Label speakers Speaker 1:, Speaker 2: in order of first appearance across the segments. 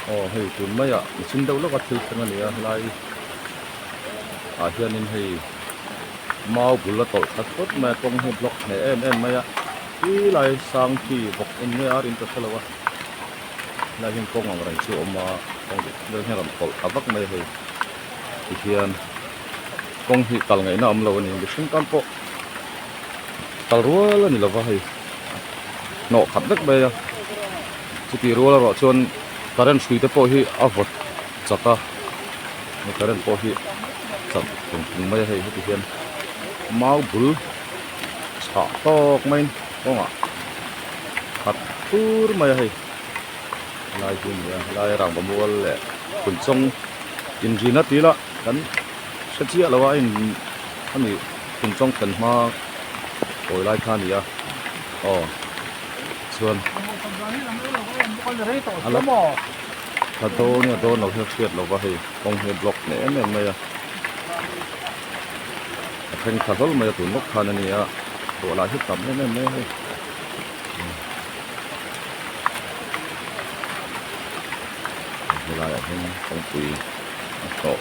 Speaker 1: aw hei tun mai ah a chim deuh hlek a thil thleng a ni a helai ah hian in hei mau bul a tawlh tlat tlat mai a kawng hi a block hneh em em mai a ti lai sang khi bawk en nge a rin ta tha lo a helai hian kawng ang reng chu a awm a kawng duh vel hian a rawn tawlh ta vak mai a hei ti hian kawng hi kal ngeihna awm lo a ni mihring tam pawh-- kal rual a ni lova hei hnawh khat vek mai a chutih rual erawh chuan current hrui te pawh hi a vawt chak a hei current pawh hi chak thung thung mai a hei heti hian mau bul chhah tawk maiin kawngah khat fur mai a hei helai hi a ni a helai a rangva mual leh kunchawng inrin a ti ila kan hre chiah lo a a in a ni. Khum chawng thlen hma pawi lai kha a ni a, aw chuan ala tha dawn a dawn lo hian hriat lova hei kawng hi a block hle em em mai a, a thengtha hlawl mai a tun lawk khan a ni a, duah lah hi tam em em mai a hei. Helaiah hian kawngpui a hlawh.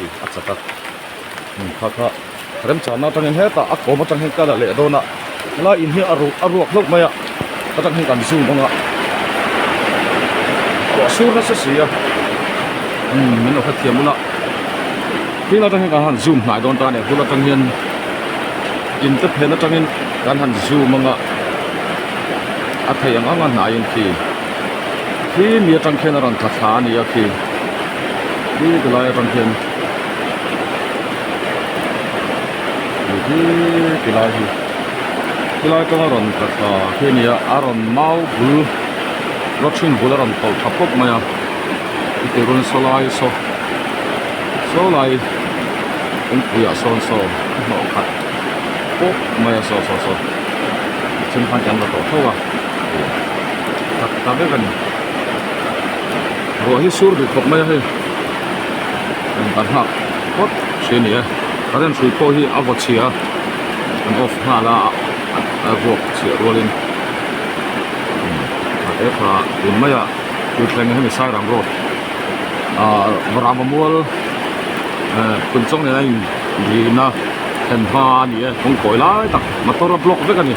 Speaker 1: ih a chak a hmun kha kha remchang na atangin hetah a kawm atang hian kala leh dawn a helai in hi a ruh a ruak hlauh mai a hetah hian kan zoom ang a ruah sur nasa si a umm min lo hrethiam ula tin atang hian kan han zoom hnai dawn ta a ni hun atang hian in te phen atangin kan han zoom anga a thei ang ang a hnaiin khi khi mi atang khian a rawn tha thla a ni a khi tlui ta lai atang hian ni tlui ti lai hi tilai kawng a rawn tla tha khi a ni a a rawn mau bul rua thin bul a rawn pho tha pawp mai a titirun saw lai saw saw lai kawngpui ah sawn saw a hnawh khat pawp mai a saw saw saw a then khan eng la tawh tho a tak ta vek a ni. ruah hi sur duh khawp mai a hei a intar nghak phawt si a ni e current hrui pawh hi a vaw chhia an off nghal a a vuak chhiah rual in a he kha tum mai a thil thleng a hemi sairam road ah ram mamual eh kun chawng nena in luhna thlen hma a ni e kawngkawi lai tak motor a block vek a ni.